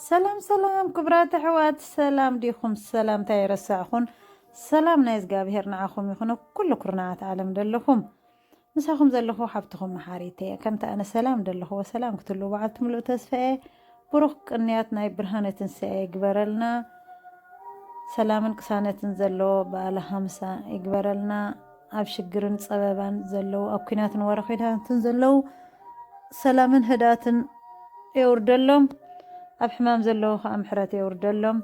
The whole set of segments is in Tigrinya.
ሰላም ሰላም ክብራት ኣሕዋት ሰላም ዲኹም ሰላምታ የረሳዕኹን ሰላም ናይ እግዚኣብሄር ንዓኹም ይኹን ኩሉ ኩርናዓት ዓለም ደለኹም ምሳኹም ዘለኹ ሓብትኹም መሓሪት እየ ከምቲ ኣነ ሰላም ደለኹዎ ሰላም ክትህልው በዓልቲ ምሉእ ተስፋ እየ ብሩኽ ቅንያት ናይ ብርሃነ ትንሳኤ ይግበረልና ሰላምን ቅሳነትን ዘለዎ በዓለ ሃምሳ ይግበረልና ኣብ ሽግርን ጸበባን ዘለው ኣብ ኩናትን ወረኺዳትን ዘለው ሰላምን ህዳትን የውርደሎም ኣብ ሕማም ዘለው ከዓ ምሕረት የውርደሎም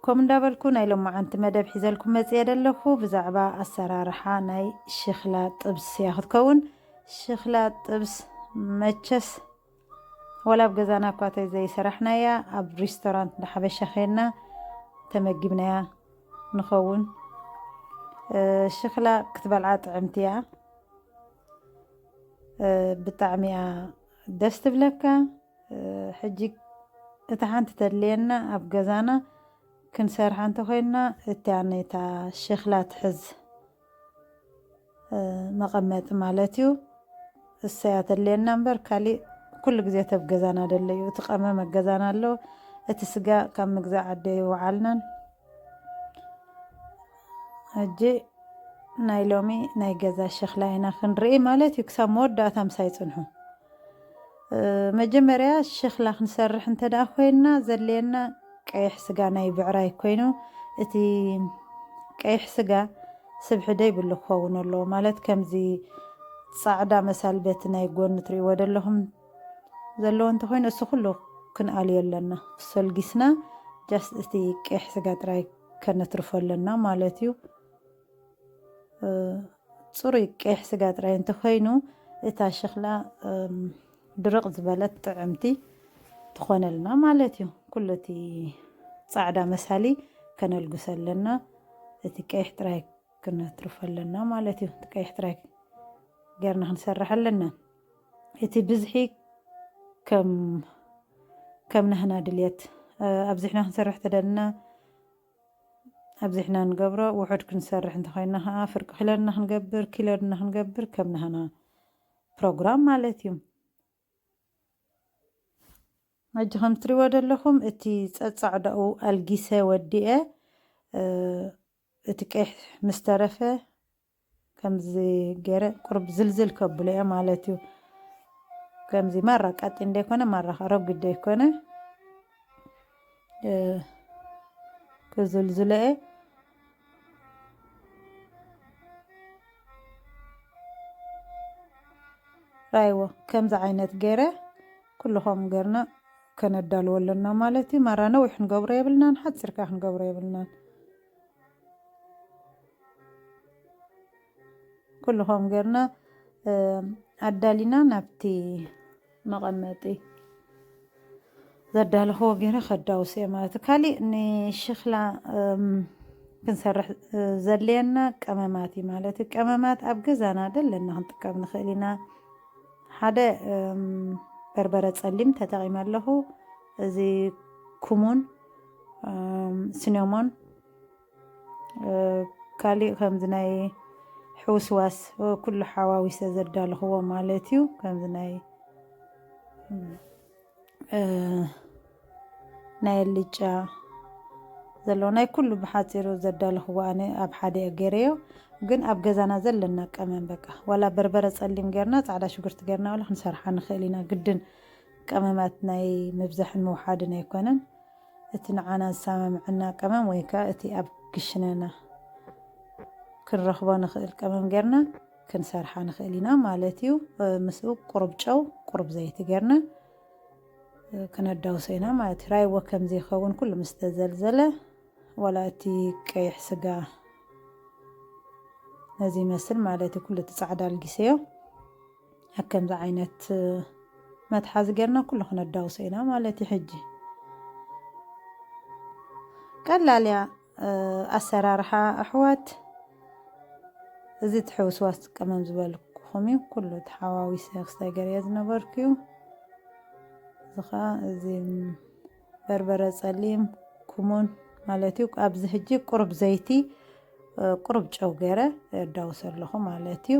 ከም እንዳበልኩ ናይ ሎማዓንቲ መደብ ሒዘልኩም መፅየ ደለኹ ብዛዕባ ኣሰራርሓ ናይ ሽክላ ጥብስ እያ ክትከውን ሽክላ ጥብስ መቸስ ዋላ ኣብ ገዛና እኳ ተዘይሰራሕናያ ኣብ ሪስቶራንት እንዳ ሓበሻ ኼንና ተመጊብናያ ንኸውን። ሽክላ ክትበልዓ ጥዕምቲ እያ ብጣዕሚ እያ ደስ ትብለካ። ሕጂ እታ ሓንቲ ተድልየና ኣብ ገዛና ክንሰርሓ እንተኮይንና እቲኣነታ ሸክላ ትሕዝ መቐመጢ ማለት እዩ እሰይ ኣተለየና እምበር ካሊእ ኩሉ ግዜ ተብ ገዛና ደሎ እዩ እቲ ቀመም ኣብ ገዛና ኣሎ እቲ ስጋ ካብ ምግዛእ ዓደ ይወዓልናን ሕጂ ናይ ሎሚ ናይ ገዛ ሸኽላ ኢና ክንርኢ ማለት እዩ ክሳብ መወዳእታ ምሳይ ፅንሑ መጀመርያ ሸክላ ክንሰርሕ እንተ ኮይንና ዘድልየና ቀይሕ ስጋ ናይ ብዕራይ ኮይኑ እቲ ቀይሕ ስጋ ስብሒ ደይብሉ ክከውን ኣለዎ ማለት ከምዚ ጻዕዳ መሳል በቲ ናይ ጎኒ ትርእይዎ ደለኩም ዘለዎ እንተ ኮይኑ እሱ ኩሉ ክንኣልዮ ኣለና ሶልጊስና ጃስት እቲ ቀይሕ ስጋ ጥራይ ከነትርፎ ኣለና ማለት እዩ። ፅሩይ ቀይሕ ስጋ ጥራይ እንተኮይኑ እታ ሸኽላ ድርቕ ዝበለት ጥዕምቲ ትኾነልና ማለት እዩ። ኩሉ እቲ ፃዕዳ መሳሊ ከነልግሶ ኣለና። እቲ ቀይሕ ጥራይ ክነትርፎ ኣለና ማለት እዩ። እቲ ቀይሕ ጥራይ ጌርና ክንሰርሕ ኣለና። እቲ ብዝሒ ከም ከም ናህና ድልየት ኣብዚሕና ክንሰርሕ ተደልና ኣብዚሕና ንገብሮ ውሑድ ክንሰርሕ እንተኾይና ከኣ ፍርቂ ክለድና ክንገብር ኪለድና ክንገብር ከም ናህና ፕሮግራም ማለት እዩ። ሕጂ ከም ትሪዎ ዘለኹም እቲ ጸጻዕዳኡ ኣልጊሰ ወዲኤ እቲ ቀይሕ ምስ ተረፈ ከምዚ ገረ ቁሩብ ዝልዝል ከብሎ እየ ማለት እዩ ከምዚ ማራ ቀጢን ደይኮነ ማራ ከ ረጒድ ደይኮነ ክዝልዝሎ እየ ራይዎ ከምዚ ዓይነት ገረ ኩሉ ከምኡ ገርና ከነዳልዎ ኣለና ማለት እዩ ማራ ነዊሕ ክንገብሮ የብልናን ሓፂርካ ክንገብሮ የብልናን ኩሉ ከምኡ ጌርና ኣዳሊና ናብቲ መቐመጢ ዘዳለኽዎ ገይረ ከዳውስ እየ ማለት እዩ ካሊእ ንሽክላ ክንሰርሕ ዘድልየና ቀመማት እዩ ማለት እዩ ቀመማት ኣብ ገዛና ደለና ክንጥቀም ንኽእል ኢና ሓደ በርበረ ፀሊም ተጠቂመ ኣለኹ እዚ ኩሙን ስኒሞን ካሊእ ከምዚ ናይ ሕውስዋስ ኩሉ ሓዋዊሰ ዘዳለኽዎ ማለት እዩ ከምዚ ናይ ናይ ኣልጫ ዘለዎ ናይ ኩሉ ብሓፂሩ ዘዳለኽዎ ኣነ ኣብ ሓደ እየ ገይረዮ ግን ኣብ ገዛና ዘለና ቀመም በቃ ዋላ በርበረ ፀሊም ጌርና ፃዕዳ ሽጉርቲ ጌርና ዋላ ክንሰርሓ ንኽእል ኢና ግድን ቀመማት ናይ ምብዛሕን ምውሓድን ኣይኮነን እቲ ንዓና ዝሰማምዐና ቀመም ወይ ከኣ እቲ ኣብ ክሽነና ክንረኽቦ ንኽእል ቀመም ጌርና ክንሰርሓ ንኽእል ኢና ማለት እዩ። ምስኡ ቁሩብ ጨው ቁሩብ ዘይቲ ጌርና ክነዳውሶ ኢና ማለት እዩ። ራይዎ ከም ዘይኸውን ኩሉ ምስ ተዘልዘለ ዋላ እቲ ቀይሕ ስጋ ነዚ ይመስል ማለት እዩ። ኩሉ እቲ ጻዕዳ ኣልጊሰዮ። ኣብ ከምዚ ዓይነት መትሓዚ ጌርና ኩሉ ክነዳውሶ ኢና ማለት እዩ ሕጂ ቀላል እያ ኣሰራርሓ ኣሕዋት እዚ ትሕውስዋስ ትቀመም ዝበልኩኹም እዩ ኩሉ ተሓዋዊሰ ክስታይ ገርየ ዝነበርኩ እዩ እዚ ከዓ እዚ በርበረ ጸሊም ኩሙን ማለት እዩ ኣብዚ ሕጂ ቁሩብ ዘይቲ ቁሩብ ጨው ገይረ የዳውሶ ኣለኹ ማለት እዩ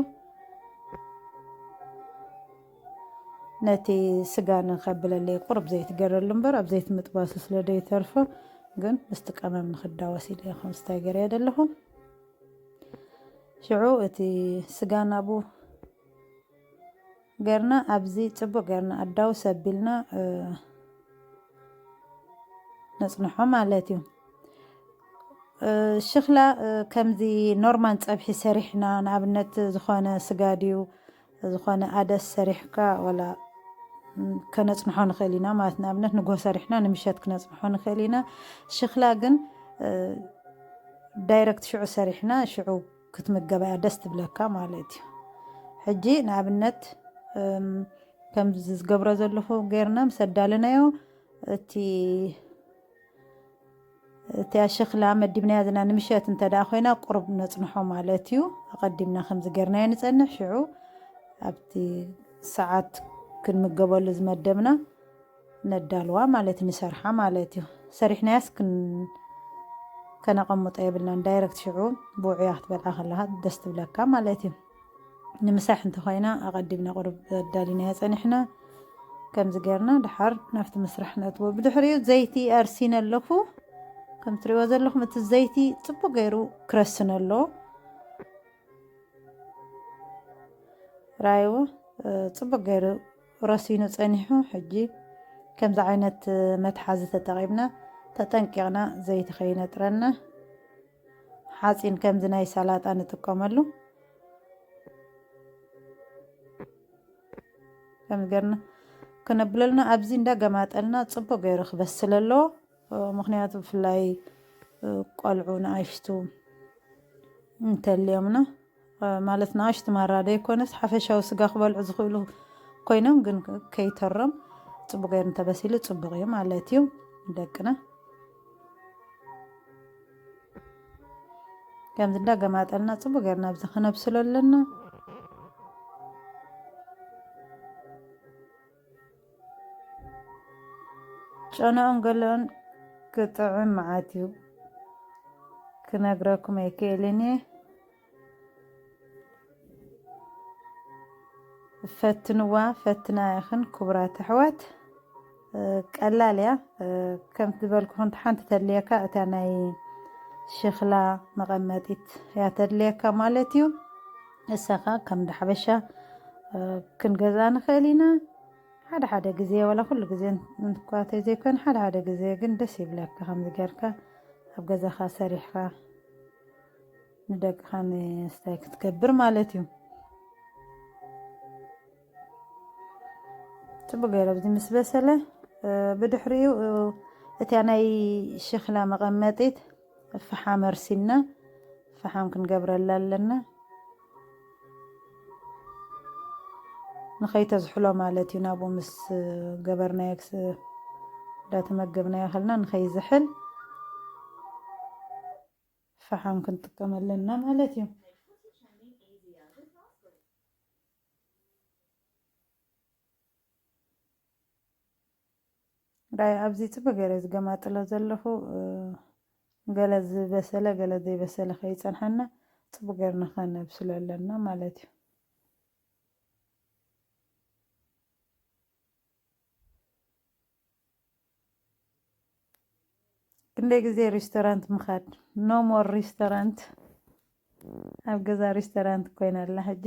ነቲ ስጋ ንከብለለይ ቁሩብ ዘይቲ ገረሉ እምበር ኣብ ዘይቲ ምጥባሱ ስለ ደይተርፎ ግን ምስቲ ቀመም ንክዳወስ ኢለ ከም ስታይ ገረ ዘለኹ ሽዑ እቲ ስጋ ናብኡ ገርና ኣብዚ ጽቡቅ ገርና ኣዳውስ ኣቢልና ነጽንሖ ማለት እዩ ሽክላ ከምዚ ኖርማን ጸብሒ ሰሪሕና ንኣብነት ዝኾነ ስጋ ድዩ ዝኾነ ኣደስ ሰሪሕካ ወላ ከነፅንሖ ንኽእል ኢና ማለት ንኣብነት ንጎ ሰሪሕና ንምሸት ክነፅንሖ ንኽእል ኢና ሽክላ ግን ዳይረክት ሽዑ ሰሪሕና ሽዑ ክትምገባ እያ ደስ ትብለካ ማለት እዩ ሕጂ ንኣብነት ከምዚ ዝገብሮ ዘለኹ ጌርና ምስ ኣዳለናዮ እቲ እቲያ ሸክላ መዲብናያ ዘለና ንምሸት እንተ ደኣ ኮይና ቁሩብ ነፅንሖ ማለት እዩ ኣቐዲምና ከምዚ ጌርናዮ ንፀንሕ ሽዑ ኣብቲ ሰዓት ክንምገበሉ ዝመደብና ነዳልዋ ማለት ንሰርሓ ማለት እዩ ሰሪሕናያስ ከነቀምጦ የብልናን ዳይረክት ሽዑ ብውዑያ ክትበልዓ ከለካ ደስ ትብለካ ማለት እዩ ንምሳሕ እንተኮይና ኣቀዲምና ቁሩብ ኣዳሊናዮ ፀኒሕና ከምዚ ገርና ድሓር ናብቲ ምስራሕ ነእትዎ ብድሕሪኡ ዘይቲ ኣርሲነ ኣለኩ ከም ትሪእዎ ዘለኹም እቲ ዘይቲ ፅቡቅ ገይሩ ክረስነ ኣሎ ራይዎ ፅቡቅ ገይሩ ረሲኑ ጸኒሑ ሕጂ ከምዚ ዓይነት መትሓዚ ተጠቂምና ተጠንቂቅና ዘይቲ ከይነጥረና ሓጺን ከምዚ ናይ ሰላጣ ንጥቀመሉ ከም ገርና ክነብለልና ኣብዚ እንዳ ገማጠልና ጽቡቅ ገይሩ ክበስል ኣለዎ ምክንያቱ ብፍላይ ቆልዑ ንኣሽቱ እንተልዮምና ማለት ንኣሽቱ ማራ ዘይኮነስ ሓፈሻዊ ስጋ ክበልዑ ዝኽእሉ ኮይኖም ግን ከይተሮም ፅቡቅ ገይሩ እንተበሲሉ ፅቡቅ እዩ ማለት እዩ ደቅና ከምዚ እንዳ ገማጠልና ፅቡቅ ገይርና ኣብዚ ክነብስሎ ኣለና ጨነኦም ገለኦም ክጥዕም መዓት እዩ ክነግረኩም ኣይክእልን እየ ፈትንዋ ፈትና ይኽን ክቡራት ኣሕዋት ቀላል እያ ከምቲ ዝበልኩኹን ሓንቲ ተድልየካ እታ ናይ ሸኽላ መቐመጢት እያ ተድልየካ ማለት እዩ ንሳ ከኣ ከም እንዳ ሓበሻ ክንገዝኣ ንኽእል ኢና ሓደ ሓደ ግዜ ዋላ ኩሉ ግዜ እንኳ ተዘይኮነ ሓደ ሓደ ግዜ ግን ደስ ይብለካ ከምዚ ጌርካ ኣብ ገዛኻ ሰሪሕኻ ንደቅኻ ምስታይ ክትገብር ማለት እዩ ፅቡቅ ገይረ ኣብዚ ምስ በሰለ ብድሕሪኡ እቲያ ናይ ሸክላ መቐመጢት ፈሓም ኣርሲና ፈሓም ክንገብረላ ኣለና ንኸይተዝሕሎ ማለት እዩ ናብኡ ምስ ገበርናዮ እንዳተመገብናዮ ከልና ንኸይዝሕል ፈሓም ክንጥቀም ኣለና ማለት እዩ ራይ ኣብዚ ጽበ ገረ ዝገማጥሎ ዘለኹ ገለ ዝበሰለ ገለ ዘይበሰለ ከይጸንሓና ጽቡ ገርና ከነብስሎ ኣለና ማለት እዩ ክንደይ ግዜ ሬስቶራንት ምኻድ ኖ ሞር ሬስቶራንት ኣብ ገዛ ሬስቶራንት ኮይና ኣላ ሕጂ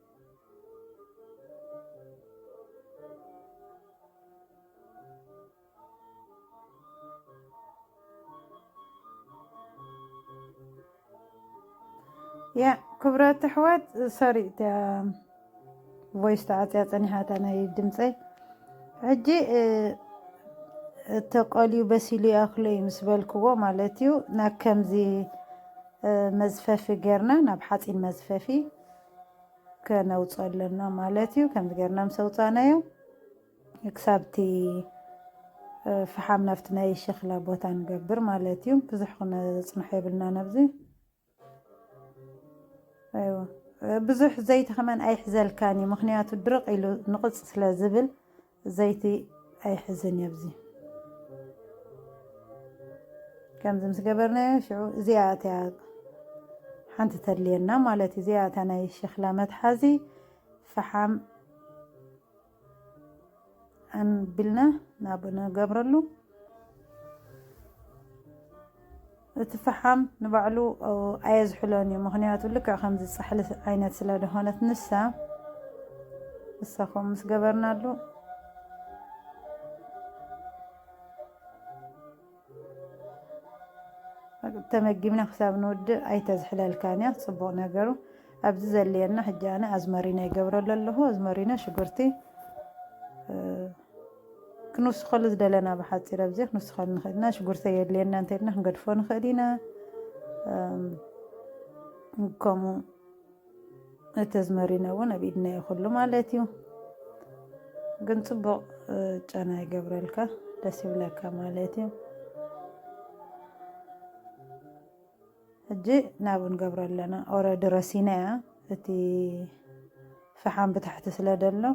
ያ ክብረት ኣሕዋት ሶሪ እቲያ ቮይስ ተዓፅያ ፀኒሓታ ናይ ድምፀይ ሕጂ እቲ ቆልዩ በሲሉ ይኣክሎ እዩ ምስ በልክዎ ማለት እዩ ናብ ከምዚ መዝፈፊ ጌርና ናብ ሓፂን መዝፈፊ ከነውፅኦ ኣለና ማለት እዩ ከምዚ ገርና ምስ ኣውፃእናዮ ክሳብቲ ፍሓም ናብቲ ናይ ሸኽላ ቦታ ንገብር ማለት እዩ ብዙሕ ክነፅንሖ የብልና ነብዚ ብዙሕ ዘይቲ ከመን ኣይሕዘልካን እዩ ምክንያቱ ድርቅ ኢሉ ንቕፅ ስለ ዝብል ዘይቲ ኣይሕዝን እዩ ኣብዚ ከምዚ ምስ ገበርናዮ ሽዑ እዚኣ እቲያ ሓንቲ ተድልየና ማለት እዩ እዚኣ እታ ናይ ሸክላ መትሓዚ ፈሓም ኣንቢልና ናብ ንገብረሉ እቲ ፈሓም ንባዕሉ ኣየዝሕሎን እዩ ምኽንያቱ ልክዕ ከምዚ ጻሕሊ ዓይነት ስለ ደኾነት ንሳ ንሳ ከምኡ ምስ ገበርናሉ ተመጊብና ክሳብ ንውድእ ኣይተዝሕለልካን እያ ፅቡቕ ነገሩ ኣብዚ ዘልየና ሕጂ ኣነ ኣዝመሪኖ ይገብረሉ ኣለኹ ኣዝመሪኖ ሽጉርቲ ክንውስኸሉ ዝደለና ብሓፂር ኣብዚ ክንውስኸሉ ንኽእል ኢና ሽጉርተ የድልየና እንተልና ክንገድፎ ንኽእል ኢና ከምኡ እተዝመሪነ እውን ኣብ ኢድና እዩ ኩሉ ማለት እዩ ግን ፅቡቕ ጨና ይገብረልካ ደስ ይብለካ ማለት እዩ ሕጂ ናብ ንገብሮ ኣለና ኦረዲ ረሲና እያ እቲ ፈሓም ብታሕቲ ስለ ደሎ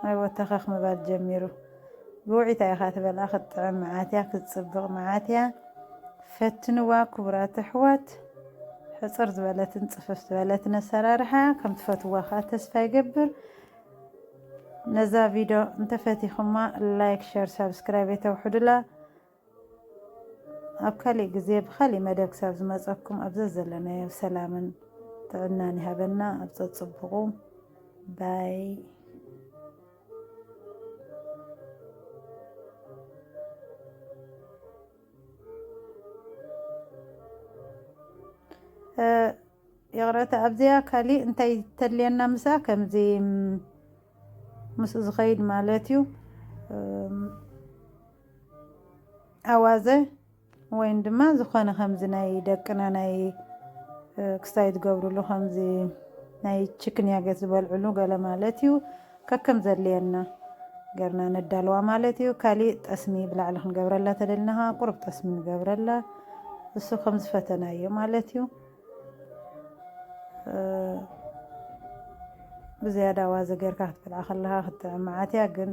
ኣይወተኸኽ ምባል ጀሚሩ። ብውዒታ ኢኻ ትበልዓ ክትጥዕም መዓት እያ ክትጽብቕ መዓት እያ ፈትንዋ ክቡራት ኣሕዋት ሕጽር ዝበለትን ጽፍፍ ዝበለትን ኣሰራርሓ ከም ትፈትዋ ከዓ ተስፋ ይገብር ነዛ ቪድዮ እንተፈቲኹማ ላይክ ሸር ሳብስክራይብ የተውሕዱላ ኣብ ካሊእ ግዜ ብካሊእ መደብ ክሳብ ዝመፀኩም ኣብ ዘዘለናዮ ሰላምን ጥዕናን ይሃበና ኣብ ፀፅቡቁ ባይ ይቕረታ ኣብዚኣ ካሊእ እንታይ ተድልየና ምሳ ከምዚ ምስ ዝኸይድ ማለት እዩ ኣዋዘ ወይን ድማ ዝኾነ ከምዚ ናይ ደቅና ናይ ክስታይ ትገብርሉ ከምዚ ናይ ችክንያ ገት ዝበልዕሉ ገለ ማለት እዩ ከከም ዘድልየና ገርና ነዳልዋ ማለት እዩ ካሊእ ጠስሚ ብላዕሊ ክንገብረላ ተደልና ከዓ ቁርብ ጠስሚ ንገብረላ እሱ ከም ዝፈተናዮ ማለት እዩ ብዝያዳ ኣዋዘ ጌርካ ክትበልዓ ከለካ ክትጥዕም መዓት እያ ግን